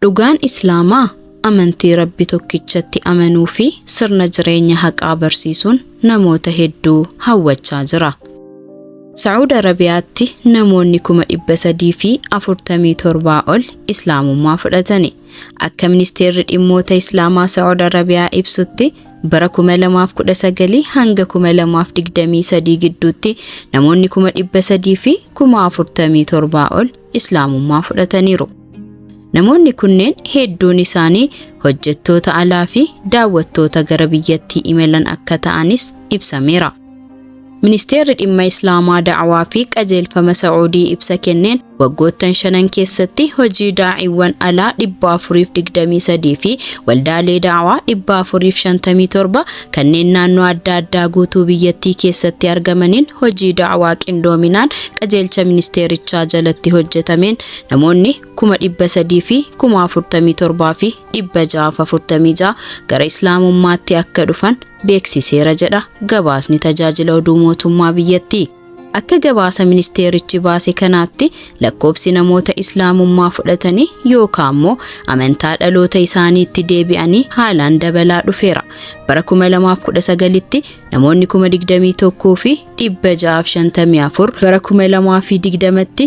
Dhugaan Islaamaa amantii Rabbi tokkichatti amanuu fi sirna jireenya haqaa barsiisuun namoota hedduu hawwachaa jira. Sa'uud Arabiyaatti namoonni 347,000 ol Islaamummaa fudhatani. Akka Ministeerri Dhimmoota Islaamaa Sa'uud Arabiyaa ibsutti bara 2019 hanga 2023 gidduutti namoonni 347,000 ol Islaamummaa fudhataniiru. Namoonni kunneen hedduun isaanii hojjettoota alaa fi daawwattoota gara biyyattii imalan akka ta'anis ibsameera. Ministeerri dhimma Islaamaa da'awaa fi qajeelfama Sa'uudii ibsa kenneen waggoottan shanan keessatti hojii daa'iiwwan alaa 423 fi waldaalee da'awaa 457 kanneen naannoo adda addaa guutuu biyyattii keessatti argamaniin hojii da'awaa qindoominaan qajeelcha ministeerichaa jalatti hojjetameen namoonni 347,646 gara islaamummaatti akka dhufan beeksiseera jedha gabaasni tajaajila oduu mootummaa biyyattii. Akka gabaasa ministeerichi baase kanaatti lakkoobsi namoota Islaamummaa fudhatanii yookaan immoo amantaa dhaloota isaaniitti deebi'anii haalaan dabalaa dhufeera. Bara 2019tti namoonni 21,654, bara 2020tti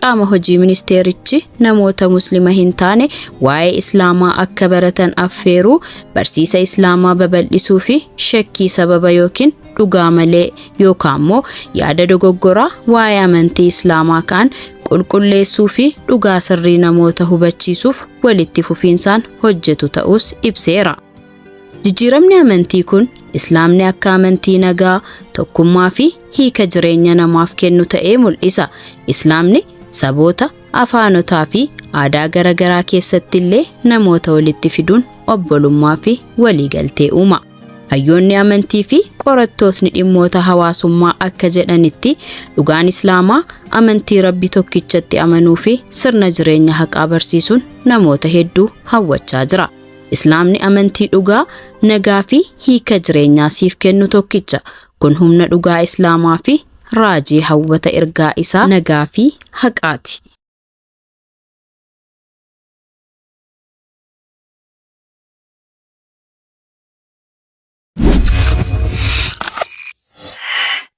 qaama hojii ministeerichi namoota muslima hin taane waa'ee islaamaa akka baratan affeeruu barsiisa islaamaa babal'isuu fi shakkii sababa yookiin dhugaa malee yookaan immoo yaada dogoggoraa waa'ee amantii islaamaa ka'an qulqulleessuu fi dhugaa sirrii namoota hubachiisuuf walitti fufiinsaan hojjetu ta'uus ibseera. Jijjiiramni amantii kun Islaamni akka amantii nagaa, tokkummaa fi hiika jireenya namaaf kennu ta'ee mul'isa. Islaamni saboota, afaanotaa fi aadaa garaagaraa keessatti illee namoota walitti fiduun obbolummaa fi waliigaltee uuma. Hayyoonni amantii fi qorattootni dhimmoota hawaasummaa akka jedhanitti dhugaan Islaamaa amantii Rabbi tokkichatti amanuu fi sirna jireenya haqaa barsiisuun namoota hedduu hawwachaa jira. Islaamni amantii dhugaa, nagaa fi hiika jireenyaa siif kennu tokkicha. Kun humna dhugaa Islaamaa fi raajii hawwata ergaa isaa nagaa fi haqaati.